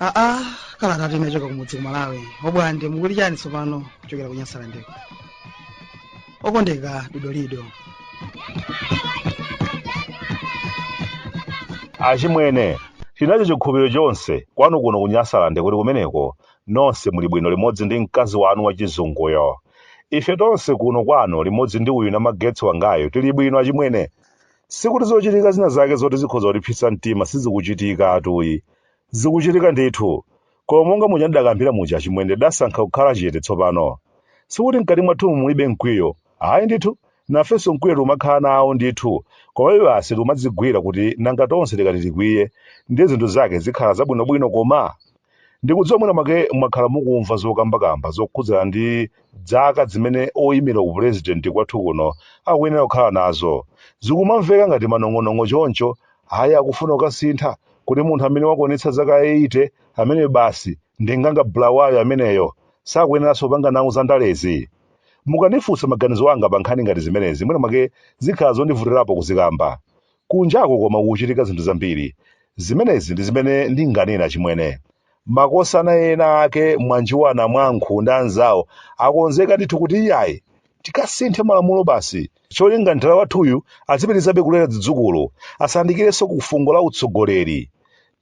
aa kalata inachoka kumudzi ku malawi obwande mukuti chiyani tsopano kuchokera ku nyasalandeko okondeka dodolido achimwene ndinacho chikhulupiriro chonse kwathu kuno ku nyasaland kuti kumeneko nonse muli bwino limodzi ndi mkazi wanu wachizunguyo ife tonse kuno kwanu limodzi ndi uyu namagetsi wangayo tili bwino achimwene sikuti zochitika zina zake zoti zikhoza kutipsetsa mtima sizikuchitika iyayi zikuchitika ndithu Koma monga muja ndidakambira muja achimwene tidasankha kukhala chete tsopano. Sikuti mkati mwathumu mulibe mkwiyo. Ayi ndithu, nafenso mkwiyo tikumakhala nawo ndithu. Komabe basi tikumadzigwira kuti nanga tonse tikati tikwiye, ndiye zinthu zake zikhala zabwinobwino koma? Ndikudziwa mwina mwake mwakhala mukumva zokambakamba zokhudzana ndi dzaka zimene oimira upulezidenti kwathu kuno akuyenera kukhala nazo. Zikumamveka ngati manong'onong'o choncho Ayi akufuna kukasintha kuti munthu amene wakwanitsa zaka 80 ameneyo basi ndi nganga bulawayo ameneyo sakuyeneranso kupanga nawo za ndalezi. Mukandifunsa maganizo anga pa nkhani ngati zimenezi mwina mwake zikhala zondivutirapo kuzikamba. Kunjaku koma kukuchitika zinthu zambiri. Zimenezi ndi zimene ndinganene achimwene. Makosana ena ake Mwanjuwa Namwankhu ndi anzawo akonzeka ndithu kuti iyayi tikasinthe malamulo basi cholinga mthala wathuyu azipitirizabe kulera zidzukulu asayandikirenso ku fungo la utsogoleri.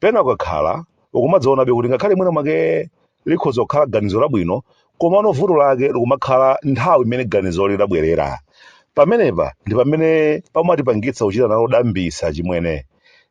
Pena ukakhala ukumadzaonabe kuti ngakhale mwina mwake likhoza kukhala ganizo labwino komano vuto lake likumakhala nthawi imene ganizoli lidabwerera. Pamenepa ndi pamene pamatipangitsa kuchita nalo dambisa achimwene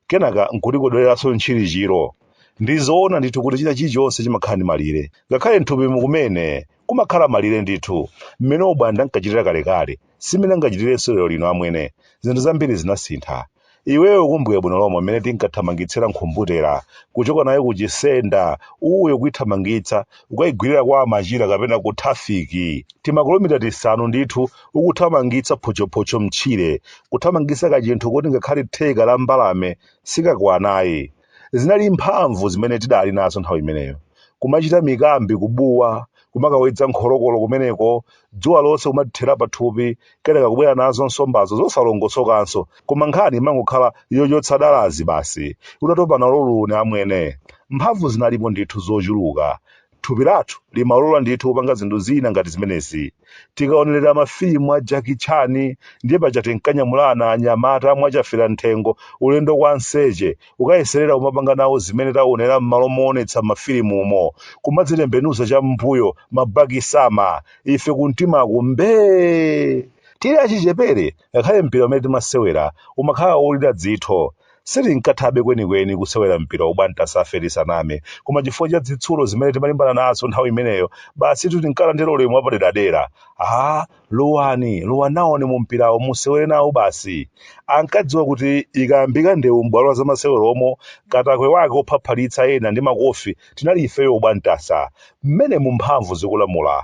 kenaka n'kutikodoleranso ntchirichiro. ndi zoona ndithu kuti china chilichonse chimakhala ndi malire ngakhale mthupimu kumene kumakhala malire ndithu mmene obwande ankachitira kalekale simene angachitirenso lero lino amwene zinthu zambiri zinasintha iweyo ukumbuka bwino lomwe mmene tinkathamangitsira nkhumbutera kuchoka nayo kuchisenda uyo kuithamangitsa kukayigwirira kwa amachira kapena ku trafiki timakilomita tisanu ndithu ukuthamangitsa photchophocho mtchire kuthamangitsa kachinthu koti ngakhale theka la mbalame sikakwana ayi Zinali mphamvu zimene tidali nazo nthawi imeneyo. Kumachita mikambi, kubuwa, kumakawedza nkholokolo kumeneko, dzuwa lonse kumatithera pathupi, kenaka kubwera nazo nsombazo zosalongosokanso. Koma nkhani imangokhala yochotsa dalazi basi. Utatopa nalo luni amwene. Mphamvu zinalipo ndithu zochuluka. Thupi lathu limalola ndithu kupanga zinthu zina ngati zimenezi. Tikaonerera mafilimu a Jackie Chan, ndiye paja tinkanyamulana anyamata mwachafira m'thengo ulendo kwa Nseche, ukayeserera kumapanga nawo zimene taonera m'malo moonetsa m'mafilimumo. Kumadzitembenuza cham'mbuyo, mabaki-sama, ife kumtimaku mbee! Tili achichepere, Ngakhale mpira umene timasewera umakhala wolira dzitho, sitinkathabe kwenikweni kusewera mpira Obwandasafe tisaname, koma chifukwa cha zitsulo zimene timalimbana nazo nthawi imeneyo, basitu tinkalandira ulemu wapaderadera. Aaa, lowani, lowa nawoni mumpirawo, musewere nawo basi. Ankadziwa kuti ikayambika ndewu m'bwalo la zamaseweromo, katakwe wake wophaphalitsa ena ndi makofi tinali ifeyo Obwandasa. Mmenemu mphamvu zikulamula.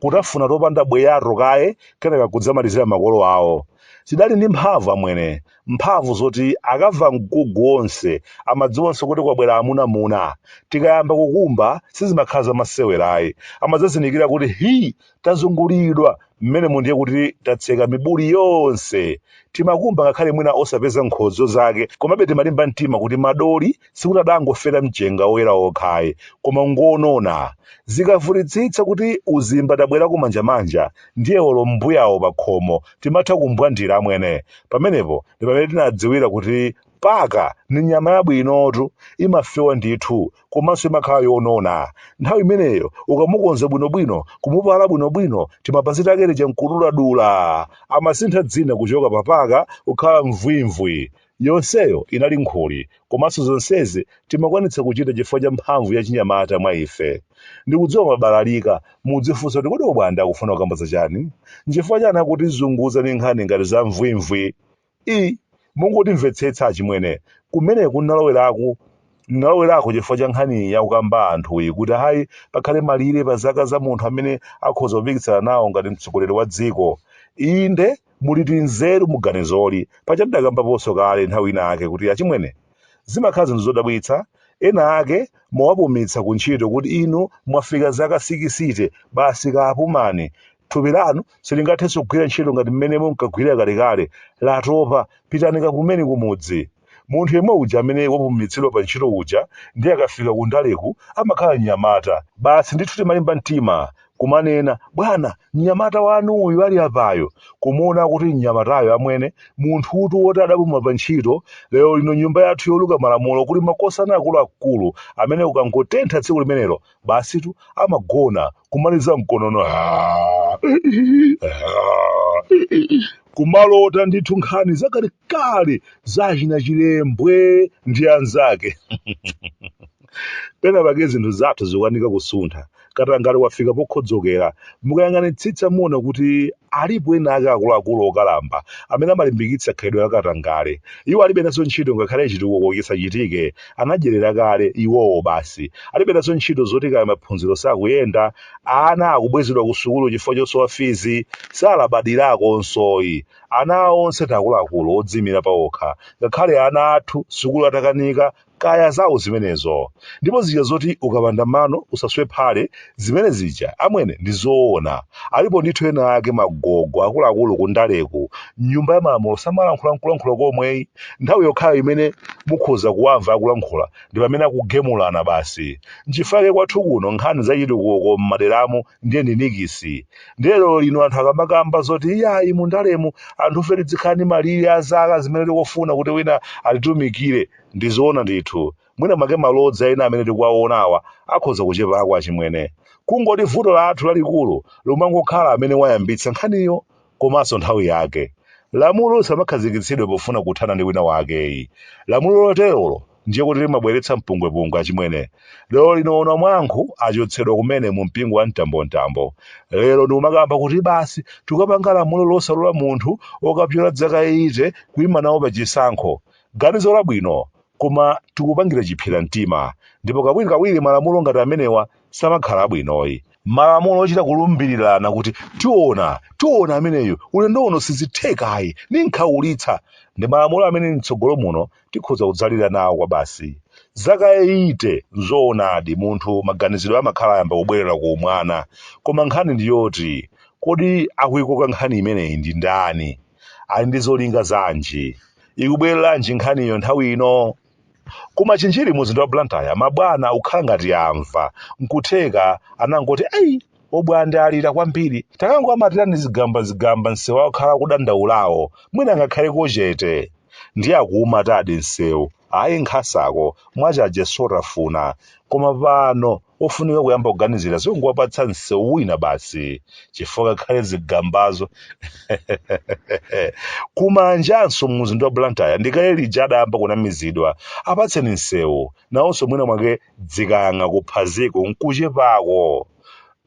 kutafuna topanda bweya'to kaye kenaka kudzamalizira makolo awo. Tidali ndi mphamvu, amwene, mphamvu zoti akamva mgugu wonse amadziwanso kuti kwabwera amunamuna. Tikayamba kukumba sizimakhala zamasewera ayi, amadzazindikira kuti hi! tazungulidwa, m'menemo ndiye kuti tatseka mibuli yonse. Timakumba ngakhale mwina osapeza nkhodzo zake, komabe timalimba mtima kuti madoli sikuti adangofera mchenga woyera wokhayi koma ngonona zikavutitsitsa kuti uzimba tabwera kumanjamanja ndiye olo mbuyawo pakhomo timatha kumbwandira amwene pamenepo ndi pamene tinadziwira kuti paka ni nyama yabwinotu imafewa ndithu komanso imakhala yonona nthawi imeneyo ukamukonza bwinobwino kumupala bwinobwino timapasita kerere nkuduladula amasintha dzina kuchoka papaka kukhala mvwimvwi Yonseyo inali nkhuli, komanso zonsezi timakwanitsa kuchita chifukwa cha mphamvu ya chinyamata mwa ife. Ndikudziwa mwabalalika, mudzifunsa kuti kodi Obwanda akufuna kukamba za chani? Nchifukwa chani akutizunguza ndi nkhani ngati za mvwimvwi? I. Mungotimvetsetsa achimwene, kumeneku nnalowerako nnalowerako chifukwa cha nkhani iyi akukamba anthuyi kuti ayi pakhale malire pa zaka za munthu amene akhoza kupikisana nawo ngati mtsogoleri wa dziko. Inde, Mulitu nzeru mu ganizoli. Paja tidakambaponso kale nthawi ina yake kuti achimwene, zimakhala zinthu zodabwitsa, ena ake mwawapumitsa ku ntchito kuti inu mwafika zaka sikisite, basi kapumani. Thupi lanu silingathenso kugwira ntchito ngati mmene munkagwirira kalekale. Latopa. Pitani kapumeni kumudzi. Munthu yemwe uja amene wapumitsidwa pa ntchito uja ndiye akafika ku ndaleku amakhala mnyamata. Basi ndithu timalimba mtima kumanena, Bwana, mnyamata wanu uyu ali apayu. Kumuona kuti mnyamatayo amwene, munthutu woti adapuma pa ntchito, lero lino nyumba yathu yoluka malamulo kuli makosana akuluakulu amene kukangotentha tsiku limenelo basitu amagona kumaliza mkonono "Ah, ah." kumalota ndithu nkhani zakalekale za achina chilembwe ndi anzake pena pake zinthu zathu zikukanika kusuntha katangale wafika pokhodzokera mukayang'anitsitsa muona kuti alipo ena ake akuluakulu okalamba amene amalimbikitsa khalidwe la katangale iwo alibe nazo ntchito ngakhale chitukuko chisachitike anadyerera kale iwowo basi alibe nazo ntchito zoti kaya maphunziro sakuyenda ana akubwezedwa ku sukulu chifukwa chosowa fizi salabadirakonsoyi ana awo onse ndi akuluakulu odzimira paokha ngakhale ana athu sukulu atakanika kaya zawo zimenezo ndipo zija zoti ukapanda mano usaswe phale zimene zija amwene ndi zoona alipo ndithu ena ake magogo akuluakulu kundaleku m'nyumba ya malamulo samalankhula nkulankhula komweyi nthawi yokhayo imene mukhoza kuwamva akulankhula ndi pamene akugemulana basi nchifake kwathu kuno nkhani zachitukuko m'maderamu ndiye ndi nikisi ndiye lero lino anthu akamakamba zoti iyayi mundalemu anthufe tidzikhala ndi malire a zaka zimene tikufuna kuti wina atitumikire ndizoona ndithu mwina mwake malodza ena amene tikuwaonawa akhoza kuchepako achimwene kungoti vuto lathu lalikulu limangokhala amene wayambitsa nkhaniyo komanso nthawi yake lamulo lisamakhazikitsidwe pofuna kuthana ndi wina wakeyi lamulo loterolo ndiye kuti limabweretsa mpungwepungwe achimwene lero lino onamwankhu achotsedwa kumene mu mpingo wa mtambomtambo lero ndikumakamba kuti basi tikapanga lamulo losalola munthu okapyola dzaka 80 kuima nawo pa chisankho ganizo labwino Koma tikupangira chiphyera mtima ndipo kawirikawiri malamulo ngati amenewa samakhala abwinoyi. Malamulo ochita kulumbirirana kuti tiona, tiona ameneyu, ulendo uno sizithekayi, ndinkhaulitsa, ndi malamulo amene m'tsogolo muno tikhoza kudzalira nawo kwabasi. Zaka eyite, n'zoonadi, munthu maganizidwe amakhala ayamba kubwerera ku umwana. Koma nkhani ndi yoti, kodi akuikoka nkhani imeneyi ndi ndani? ali ndi zolinga zanji ikubwereranji nkhaniyo nthawi ino ku machinjiri mu mzinda wa blantyre mabwana akukhala ngati amva nkutheka anangoti ayi obwande alira kwambiri takangoamatirani zigamba zigamba msewu akhala akudandaulawo mwina angakhaleko chete ndiye akuumatadi msewu ayi nkhasako mwachaje sotafuna koma pano ofunika kuyamba kuganizira zongowapatsa msewu wina basi chifukwa kakhale zigambazo ku manjanso mumzinda wa blantyre ndikale lija adayamba kunamizidwa apatseni msewu nawonso mwina mwake dzikang'a kuphaziko nkuchepako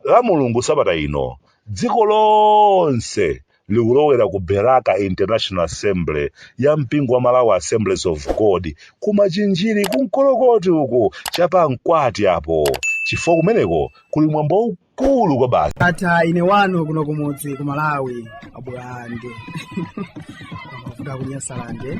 lamulungu sabata ino dziko lonse likulowera ku Beraka International Assembly ya mpingo wa Malawi Assemblies of God ku Machinjiri ku Nkolokoti uku cha pamkwati apo chifukwa kumeneko kuli mwambo waukulu kwabasi. Tatha ine wanu kuno kumudzi ku malawi a Bulande a ku Nyasalande